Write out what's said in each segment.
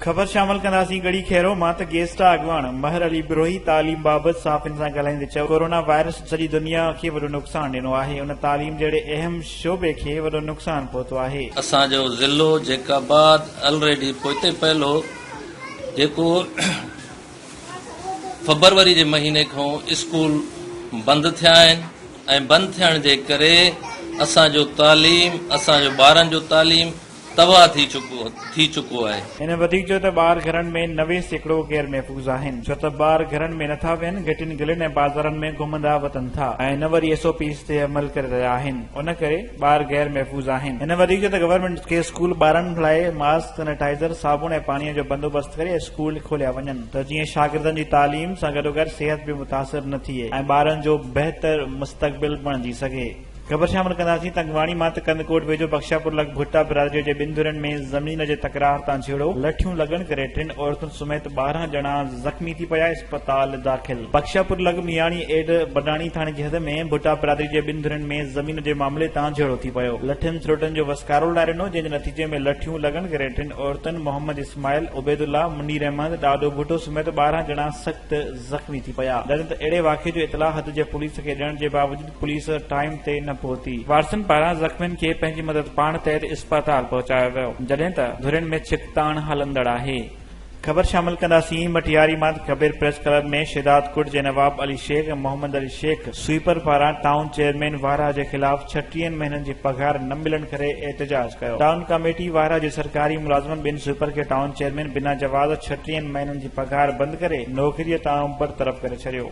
خبر شامل ڪنداسين ڳڙهي خيرو مان ته گيسٽا اڳواڻ مهر علي بروهي تعليم بابت صحافين سان ڳالهائيندي چيو ڪورونا وائرس سڄي دنيا کي وڏو نقصان ڏنو آهي ان تعليم جهڙي اهم شعبي کي وڏو نقصان پهتو آهي. اسان جو ضلعو جيڪب آباد الريڊي پوئتي پيل هو جيڪو فبروري جي مهيني کان اسڪول بند ٿيا آهن ۽ بند ٿيڻ جي ڪري اسان جو تعليم اسان جو ٻارن جو تعليم تباهه ٿي چڪو آهي. هن وڌيڪ چيو ته ٻار گهرن ۾ نوي سيڪڙو غير محفوظ آهن ڇو ته ٻار گهرن ۾ نٿا ويهن گهٽين گلين ۽ بازارن ۾ گهمندا وتن ٿا ۽ نه وري ايس او پيز تي عمل ڪري رهيا آهن ان ڪري ٻار غير محفوظ آهن هن وڌيڪ چيو ته گورنمينٽ کي اسڪول ٻارن لاء ماسڪ سينيٽائزر صابڻ ۽ پاڻي جو بندوبست ڪري اسڪول کوليا وڃن ته جيئن شاگردن جي تعليم سان گڏوگڏ صحت به متاثر نه ٿئي ۽ ٻارن جو بهتر مستقبل بڻجي سگهي. خبر شامل ڪنداسين ته اڳواڻي مان ته ڪنڌڪوٽ ويجهو بخشاپور لڳ ڀٽا برادري جي ٻن ڌرين ۾ زمين جي تڪرار تان جهيڙو لٺيون لڳڻ ڪري ٽن عورتن سميت ٻارهن ڄڻا زخمي ٿي پيا اسپتال داخل بخشاپور لڳ مياڻي ايڊ بڊاڻي ٿاڻي جي حد ۾ ڀٽا برادري جي ٻن ڌرين ۾ زمين جي معاملي تان جهيڙو ٿي پيو لٺين سروٽن جو وسڪارو لڙائي ڏنو جنهن جي نتيجي ۾ لٺيون لڳڻ ڪري ٽن عورتن محمد اسماعيل عبيدالله منير احمد ڏاڏو ڀٽو سميت ٻارهن ڄڻا سخت زخمي ٿي پيا ڏنت اهڙي واقعي جو اطلاع حد جي پوليس کي ڏيڻ جي باوجود پوليس ٽائيم تي نه پهتي، وارثن پاران زخمين کي پنهنجي مدد پاڻ تحت اسپتال پهچايو ويو، جڏهن ته ڌرين ۾ ڇڪتاڻ هلندڙ آهي. خبر شامل ڪنداسين مٽياري مان Kabir press club ۾ Shahdadkot جي نواب علي شيخ ۽ محمد علي شيخ سوئيپر پاران ٽائون چيئرمين وارهه جي خلاف ڇٽيهن مهينن جي پگهار نه ملڻ ڪري احتجاج ڪيو ٽائون ڪاميٽي وارهه جي سرڪاري ملازمن ٻن سوئيپر کي ٽائون چيئرمين بنا جواز ڇٽيهن مهينن جي پگهار بند ڪري نوڪري تان برطرف ڪري ڇڏيو.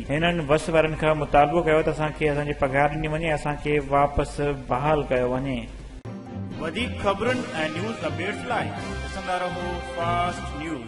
هنن بس وارن کان مطالبو ڪيو ته اسان کي اسان جي پگهار ڏني وڃي ۽ اسان کي واپس بحال ڪيو وڃي. وڌيڪ خبرن ۽ نيوز اپڊيٽس لاء ڏسندا رهو فاسٽ نيوز.